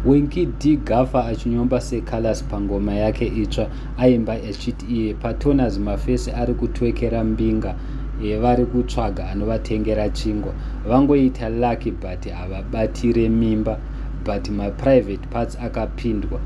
Winky D Gafa achinyomba seColors pangoma yake itsva aimba achiti iye paTonaz Mafesi ari kutwekera mbinga yevari kutsvaga anovatengera chingwa. Vangoita lucky but havabatire mimba but maprivate parts akapindwa.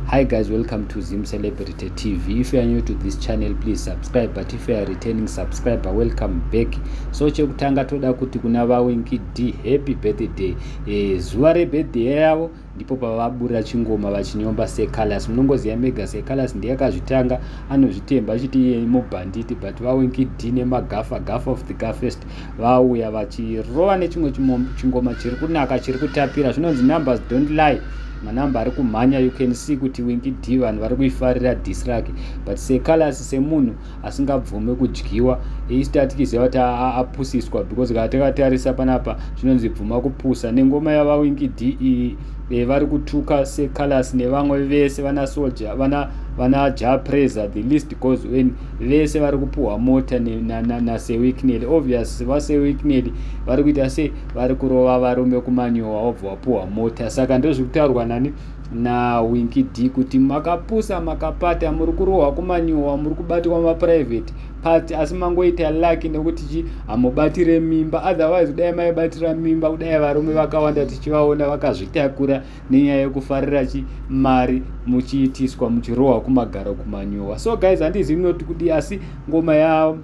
Hi guys, welcome to Zim Celebrity TV. If you are new to this channel, please subscribe. But if you are returning subscriber, welcome back. So chekutanga toda kuti kuna vaWinky D happy birthday. e, zuva rebirthday yavo ndipo pavabura chingoma vachinyomba secalus munongoziva mega secalus ndiye akazvitanga anozvitemba achiti iye mubhanditi but vawinkid nemagafa gafa of the gafest vauya vachirova nechimwe chingoma chiri kunaka chiri kutapira zvinonzi numbers don't lie manamba ari kumhanya you can see kuti winkid vanhu vari kuifarira disrake but secalus semunhu asingabvume kudyiwa east atikiziva kuti apusiswa because kana takatarisa panapa zvinonzi bvuma kupusa nengoma yavawingi de e, vari kutuka secalas nevamwe vese vana soja vana vana japresa the list goes when vese vari kupuhwa mota nasewicknely na, na obvious vasewicknely vari kuita se vari kurova varume kumanyowa wobva wapuhwa mota saka ndozviri kutaurwa nani na winky d kuti makapusa makapata muri kurohwa kumanyowa muri kubatirwa maprivate part asi mangoita lucky nekuti chi hamubatire mimba otherwise kudai maibatira mimba kudai varume vakawanda tichivaona vakazvitakura nenyaya yekufarira chi mari muchiitiswa muchirohwa kumagaro kumanyowa so guys handizivi munoti kudii asi ngoma ya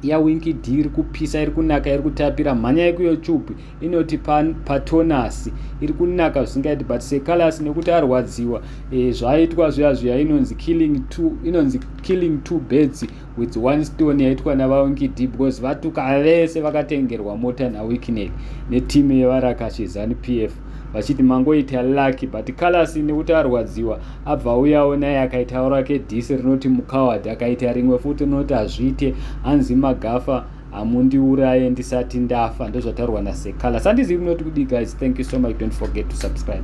ya winky d iri kupisa iri kunaka iri kutapira mhanyai kuyoutube inoti patonasi iri kunaka zvisingaiti but secalus nekuti arwadziwa e, zvaitwa zviya zviya inonzi killing two inonzi killing two birds with one stone yaitwa navawinky d because vatuka vese vakatengerwa mota nawikinel neteam yevarakashezani p f vachiti mangoita lucky but calasi nekuti arwadziwa abva auyawo naye akaitawo rake dhisi rinoti mucoward akaita rimwe futi rinoti hazviite hanzi magafa hamundiuraye ndisati ndafa ndozvataurwa nasecalasi handizivi munoti kudii guys thank you so much don't forget to subscribe